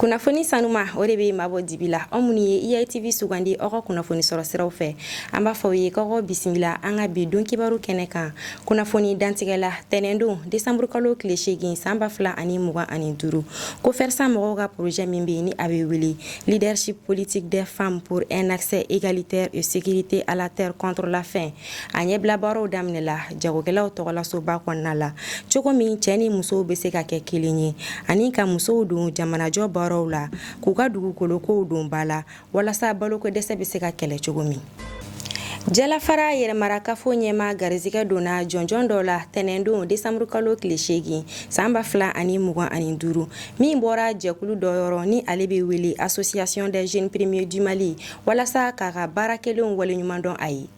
kunnafoni sanuma o de bɛ maa bɔ dibi la aw minnu ye iatv sugandi aw ka kunnafoni sɔrɔ siraw fɛ an b'a fɔ aw ye k'aw ka bisimila an ka bi don kibaru kɛnɛ kan kunnafoni dantigɛ la tɛnɛndon desanburukalo tile seegin san ba fila ani mugan ani duuru cofersa mɔgɔw ka porozɛ min bɛ ni a bɛ wele leadership politique des femmes pour un accès égalitaire et sécurité à la terre contre la faim a ɲɛbila baaraw daminɛla jagokɛlaw tɔgɔlasoba kɔnɔna la cogo min cɛɛ ni musow be se ka kɛ kelen ye ani ka musow don jamanajɔ baaraw la k'u ka dugukolo kow don ba la walasa balokodɛsɛ be se ka kɛlɛ cogo min jalafara yɛrɛmarakafo ɲɛmaa garisigɛ donna jɔnjɔn dɔ la tɛnɛndon desanburu kalo tile seegin saan ba fila ani mugan ani duuru min bɔra jɛkulu dɔ yɔrɔ ni ale be wele association des jeunes premiers du mali walasa k'a ka baara kɛlenw waleɲumandɔn a ye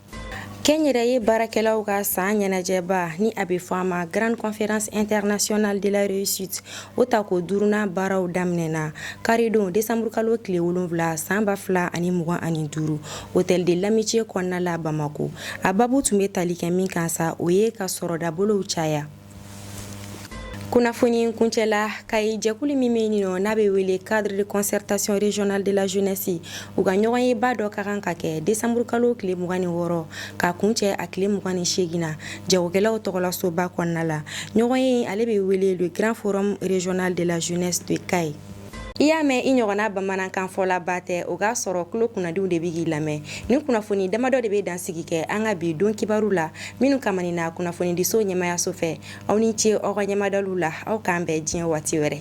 kɛnyɛrɛye baarakɛlaw ka saan ɲɛnajɛba ni a be fɔ a ma grande conférence internationale de la réussite o tako duurunan baaraw daminɛna karidon desanburukalo tile wolonfila saan ba fila ani mugan ani duru hôtel de l'amitié kɔnɔna la bamako a babu tun be tali kɛ min kan sa o ye ka sɔrɔdabolow caya kunnafoni kuncɛ la kayi jɛkulu min bɛ yen n'a bɛ wele cadre de concertation régionale de la jeunesse u ka ɲɔgɔnyeba dɔ ka kan ka kɛ décembre kalo tile 26 ka kuncɛ a tile 28 na jagokɛlaw tɔgɔlasoba kɔnɔna la ɲɔgɔnye ale bɛ wele le grand forum régional de la jeunesse de Kayes I y'a mɛn i ɲɔgɔnna bamanankan fɔlaba tɛ o k'a sɔrɔ tulo kunnadiw de bɛ k'i lamɛn ni kunnafoni damadɔ de bɛ dansigi kɛ an ka bi don kibaru la minnu kamanina kunnafonidiso ɲɛmaayaso fɛ aw ni ce aw ka ɲɛmadali la aw k'an bɛn diɲɛ waati wɛrɛ